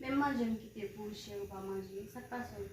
Menm manje m kite pou ou cheri w pa manje, sa k pase w?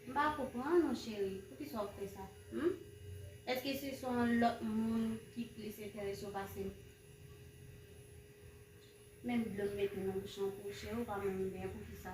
M pa konprann ou cheri, poukisa w ap fè sa? Hum? Èske se son lòt moun ki plis enterese w pase m? Menm dlo m mete nan bouch lan pou ou cheri w pa menm benyen, poukisa?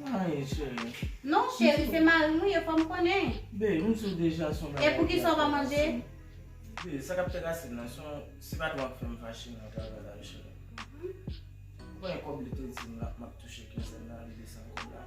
Mayi cheri. Non cheri se marim wi e fom konnen. Bee m sou deja son bagay. E poukisa w pa manje? Bee sa kap fèt asid lan son si patron ap fèm fache nan travay la wi cheri. Ou konnen kob li te dim la map touche kinzenn nan li desann kob la.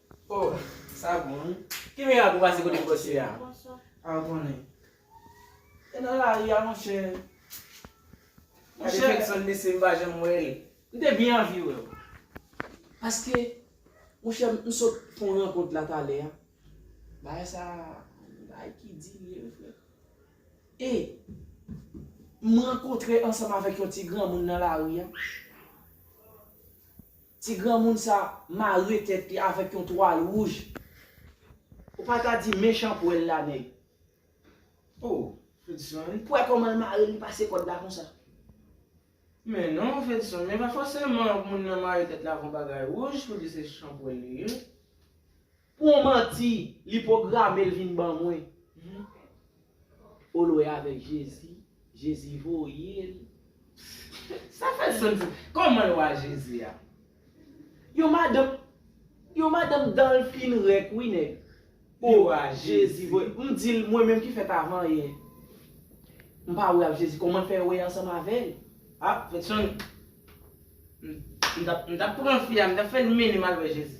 Oh sa bon wi. Ki mirak pou pase kote bòs yo ya pa ou konnen. E nan lari a monchè. Gade Kenson mesye m pa janm wè l. M te byen anvi wè w. Paske monchè m sot pran rankont la talè a. Bagay sa bagay ki di li ye wi frè. E m rankontre ansanm avèk yon ti granmoun nan lari a. Ti granmoun sa mare tèt li avèk yon twal wouj. Ou pa ta di mechan pwèl la nèg. Oh fedson wi. Pwè komanl mare li pase kòd la konsa. Men non fedson men pa fòseman moun nan mare tèt la avon bagay wouj pou di se chanpwèl li ye. Pou yon manti li pwogramel vin ban mwen ou lwe avek jezi jezi voyel. Sa fè sans wi. Koman yo a jezi a. Yon madanm Yon madanm danl fin rèk wi nèg oh jezi voye m dil mwen menm ki fèt avan yè m pa wè avk jezi koman l fè wè ansanm avèl ah fè sans m tap pran fi a m tap fèl mennen m al wè jezi.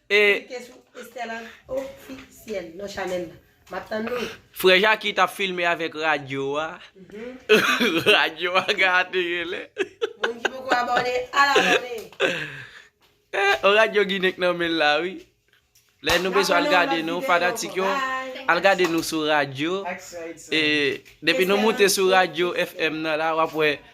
Frè Jaki tap filme avèk radyo a Radyo a gate genlè On radyo ginen k nan menl la wi Lè nou bezwen al gade nou fanatik yo Al gade nou sou radyo Depi nou moute sou radyo FM nan la wap wè